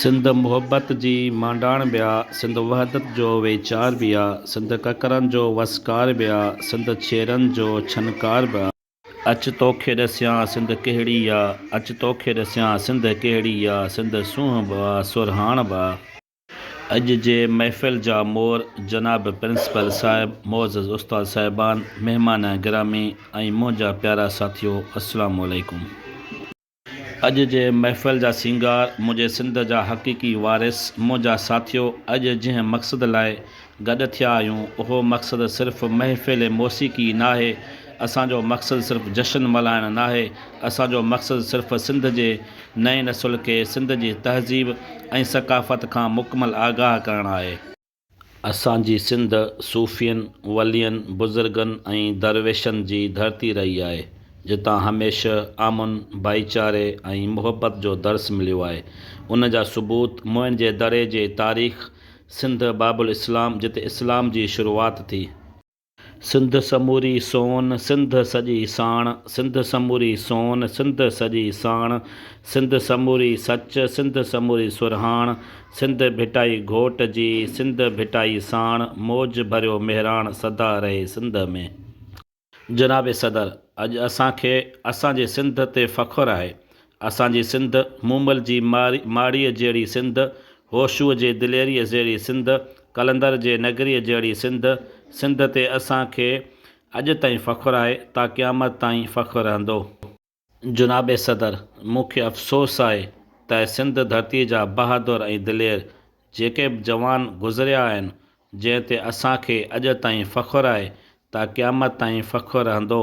سنڌ محبت جي مانڊاڻ به آ، سنڌ وحدت جو ويچار به آ، سنڌ ڪڪرن جو وسڪار به آ، سنڌ ڇيرن جو ڇنڪار به آ. اچ توکي ڏسيان سنڌ ڪهڙي آ، اچ توکي ڏسيان سنڌ ڪهڙي آ، سنڌ سونهن به آ، سرهاڻ به آ. اڄ جي محفل جا مور جناب پرنسپل صاحب، معزز استاد صاحبان، مهمان گرامي ۽ منهنجا پيارا ساٿيو السلام عليڪم. اڄ جي محفل جا سينگار، منهنجي سنڌ جا حقيقي وارث، منهنجا ساٿيو، اڄ جنهن مقصد لاء گڏ ٿيا آهيون، اهو مقصد صرف محفل موسيقي ئي ناهي، اسان جو مقصد صرف جشن ملهائڻ ناهي، اسان جو مقصد صرف سنڌ جي نئين نسل کي سنڌ جي تهذيب ۽ ثقافت کان مڪمل آگاهه ڪرڻ آهي. اسان جي سنڌ صوفين، ولين، بزرگن ۽ درويشن جي ڌرتي رهي آهي، جتان هميشه امن، ڀائيچاري ۽ محبت جو درس مليو آهي. ان جا ثبوت موئن جي دڙي جي تاريخ، سنڌ باب الاسلام جتي اسلام جي شروعات ٿي. سنڌ سموري سون سنڌ سڄي ساڻ، سنڌ سموري سون سنڌ سڄي ساڻ، سنڌ سموري سچ، سنڌ سموري سرهاڻ، سنڌ ڀٽائي گهوٽ جي، سنڌ ڀٽائي ساڻ، موج ڀريو مهراڻ سدا رهي سنڌ ۾. جناب صدر اڄ اسان کي اسان جي سنڌ تي فخر آهي اسان جي سنڌ، مومل جي ماڙيء جهڙي سنڌ، هوشوء جي دليريء جهڙي سنڌ، قلندر جي نگريء جهڙي سنڌ، سنڌ تي اسان کي اڄ تائين فخر آهي، تا قيامت تائين فخر رهندو. جناب صدر، مون کي افسوس آهي ته سنڌ ڌرتيء جا بهادر ۽ دلير جيڪي به جوان گذريا آهن، جنهن تي اسان کي اڄ تائين فخر آهي، تا قيامت تائين فخر رهندو.